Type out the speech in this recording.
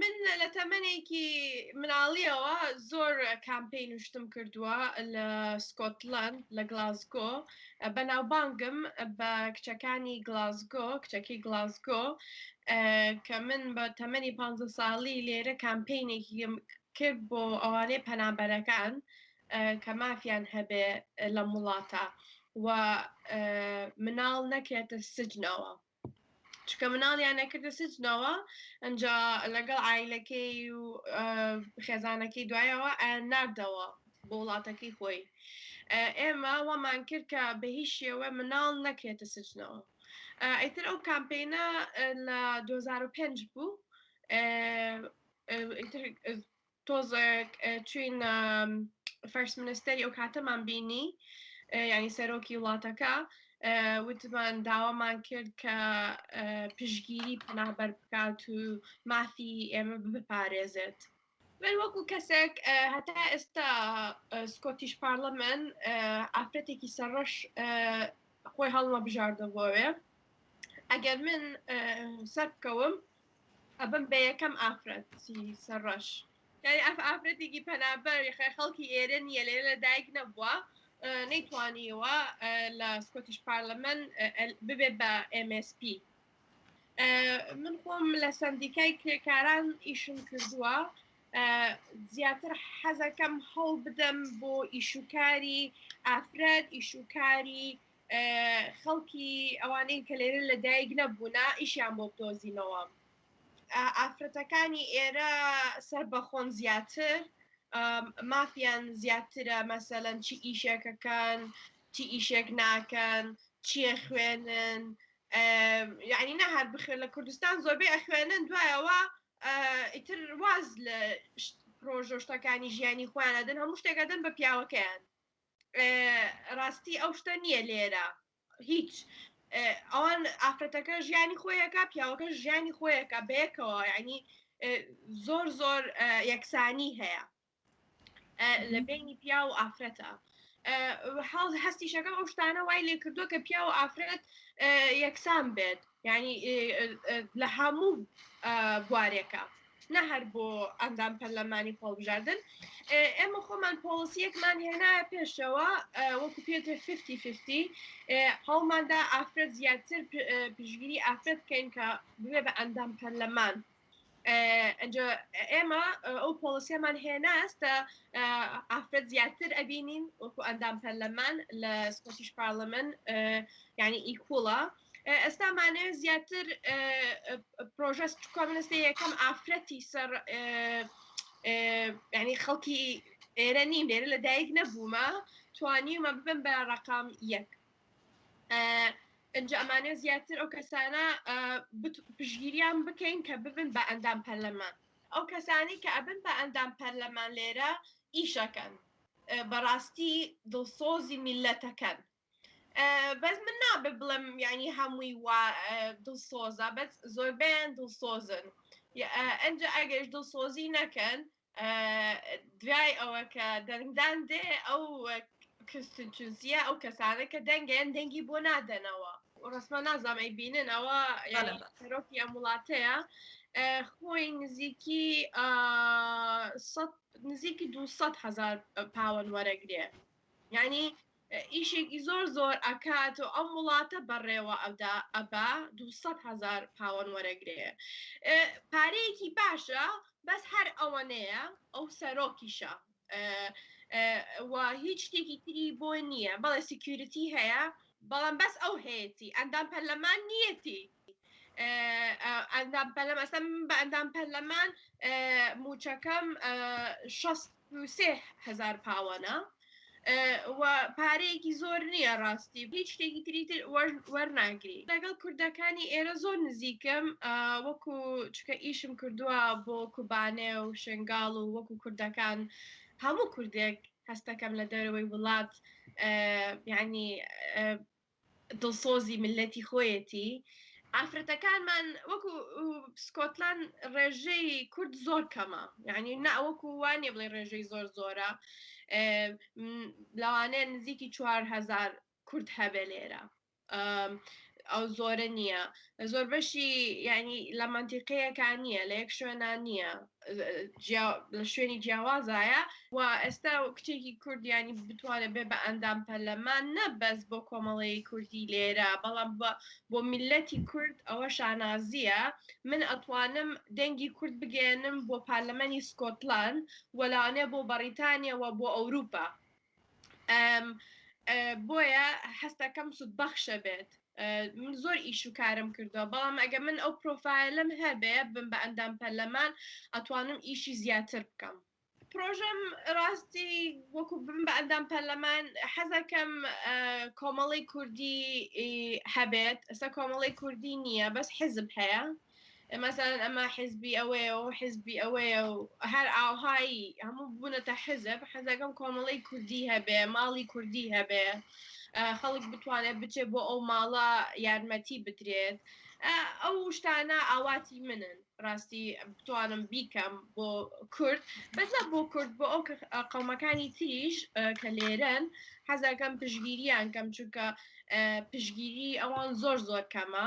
من لە تەمەێکی مناڵیەوە زۆر کامپین شتم کردووە لە سکۆتلند لە گلاسگۆ بەناوبانگم بە کچەکانی گلاسگۆ کچەکی گلاسگۆ کە من بە تەمەنی پ ساڵی لێرە کامپینێکی کرد بۆ ئەوانەی پەنابەرەکان کە مافیان هەبێ لەم وڵاتە و مناڵ نەکرێتە سجنەوە چکە مناڵیان نەکردە سجنەوە ئەجا لەگەڵ ئایلەکەی و خێزانەکەی دوایەوە نردەوە بۆ وڵاتەکەی خۆی ئێمە وامان کرد کە بە هیچ شێوە مناڵ نەکرێتە سجنەوە ئەیتر ئەو کامپینە لە 2005 بوو تۆزێک چوین فەرست منستەری ئەو کاتەمان بینی ینی سەرۆکی وڵاتەکە وتمان داوامان کرد کە پشگیری پەنابەر بکات و مافی ئێمە بپارێزێت. من وەکو کەسێک هەتا ئێستا سکۆتیش پارلەمن ئافرەتێکی سەرڕەش خۆی هەڵمە بژاردە بۆوێ ئەگەر من سەر بکەوم ئەبم بە یەکەم ئافرەتی سەر ڕەش. یانی ئەف ئافرەتێکی پەنابەر یخە خەڵکی ئێرە نییە لێرە لە دایک نەبووە نەیتوانیوە لە سکۆتیش پارلەمەن ببێت بە MSP من خۆم لە سندیکای کرێکاران ئیشم کردووە زیاتر حەزەکەم هەوڵ بدەم بۆ ئیشوکاری ئافرەت ئیشوکاری خەڵکی ئەوانەی کە لێرە لە دایک نەبوونە ئیشیان بۆ بدۆزینەوە ئافرەتەکانی ئێرە سەر بەخۆن زیاتر مافیان زیاترە مەسەلەن چی ئیشێکەکان چی ئیشێک ناکەن چیە خوێنن یعنی نە هەر بخێن لە کوردستان زۆربەی ئەخوێنن دوایەوە ئیتر واز لە پرۆژۆشتەکانی ژیانی خۆیانەدن هەموو شتێکەدەن بە پیاوەکەیان ڕاستی ئەو شتە نییە لێرە هیچ ئەوان ئافرەتەکە ژیانی خۆیەکە پیاوەکە ژیانی خۆیەکە بەیەکەوە ینی زۆر زۆر یەکسانی هەیە لە بینی پیا و ئافرەتە حاڵ هەستیشەکە ئەو شتانە وای لێ کردووە کە پیا و ئافرەت یەکسان بێت ینی لە هەموو بوارێکە نە هەر بۆ ئەندام پەرلەمانی هەڵبژاردن ئێمە خۆمان پۆڵسیەکمان هێنایە پێشەوە وەکو پێتر 50 هەڵماندا ئافرەت زیاتر پشگیری ئافرەت بکەین کە بێ بە ئەندام پەرلەمان ئەجا ئێمە ئەو پۆڵسیەمان هێناستە ئافرەت زیاتر ئەبینین وەکو ئەندام پەرلەمان لە سکۆتیش پارلەمن ینی ئیکوڵە ئێستا مانەوێ زیاتر پرۆژە کۆمنستی یەکەم ئافرەتی سەر ینی خەڵکی ئێرە نیم لێرە لە دایک نەبوومە توانیمە ببم بە ڕقام یەک ئەجا ئەمانە زیاتر ئەو کەسانە پشگیریان بکەین کە ببن بە ئەندام پەرلەمان ئەو کەسانی کە ئەبن بە ئەندام پەرلەمان لێرە ئیشەکەن بەڕاستی دڵسۆزی میلەتەکەن بەس من نابێ بڵێم یعنی هەمووی وا دڵسۆزە بەس زۆربیان دڵسۆزن ئەجا ئەگەش دڵسۆزی نەکەن دوای ئەوە کە دەنگدان دێ ئەو کستچزیە ئەو کەسانە کە دەنگیان دەنگی بۆ نادەنەوە ڕسممە نازانەی بینن ئەوە یاڕۆکی ئەم وڵاتەیە خۆی نزیکی نزیکی 200 هزار پاوەن وەرەگرێ یعنی ئیشێکی زۆر زۆر ئەکات و ئەم وڵاتە بەڕێوە ئەدا ئەبا دوو سەد هەزار پاوەن وەرەگرێ پارەیەکی باشە بەس هەر ئەوەنەیە ئەو سەرۆکیشە و هیچ شتێکی تری بۆ نییە بەڵێ سیکیورتی هەیە بەڵام بەس ئەو هەیەی ئەندام پەرلەمان نیەتی ئەندام پەرلەمەسم بە ئەندام پەرلەمان موچەکەم 16هزار پاوەە پارەیەکی زۆر نییە ڕاستی هیچ شتێکی تری تر وەرناگری لەگەڵ کوردەکانی ئێرە زۆر نزیکم وەکو چکە ئیشم کردووە بۆ کوبانێ و شنگال و وەکو کوردەکان هەموو کوردێک هەستەکەم لە دەرەوەی وڵات ینی دڵسۆزی میللەتی خۆیەتی ئافرەتەکانمان وەکو سکۆتلان ڕێژەی کورد زۆر کەمە یعنی ناوەکو وانە بڵێ ڕێژەی زۆر زۆرە لەوانەیە نزیکی چوار هزار کورد هەبێ لێرە ئەو زۆرە نییە زۆربەشی یعنی لە منتیقەیەکە نییە لە یەک شوێنە نییە لە شوێنی جیاوازایە و ئێستا کچێکی کوردیانی بتوانێت بێ بە ئەندام پەرلەمان نەبەس بۆ کۆمەڵەیە کوردی لێرە بەڵام بۆ میلەتی کورد ئەوە شانازیە من ئەتوانم دەنگی کورد بگەێنم بۆ پارلەمەنی سکۆتلان وەلاانێ بۆ بەڕیتانیەوە بۆ ئەوروپا بۆیە حەستەکەم سود بەخشە بێت من زۆر ئیش و کارم کردووە بەڵام ئەگە من ئەو پرۆفایلم هەبێ بم بە ئەندام پەرلەمان ئەتوانم ئیشی زیاتر بکەم پرۆژەم ڕاستی وەکو بم بە ئەندام پەرلەمان حەزەکەم کۆمەڵی کوردی هەبێت ئەستا کۆمەڵی کوردی نییە بەس حزب هەیە مەسەلەن ئەمە حزبی ئەوەیە و حزبی ئەوەیە و هەر ئاوهایی هەموو بوونەتە حزب حەزەکەم کۆمەڵی کوردی هەبێ ماڵی کوردی هەبێ خەڵک بتوانێت بچێ بۆ ئەو ماڵە یارمەتی بدرێت ئەو شتانە ئاواتی منن ڕاستی بتوانم بیکەم بۆ کورد بەزە بۆ کورد بۆ ئەو قەومەکانی تریش کە لێرەن حەزەکەم پشگیریان کەم چونکە پشگیری ئەوان زۆر زۆر کەمە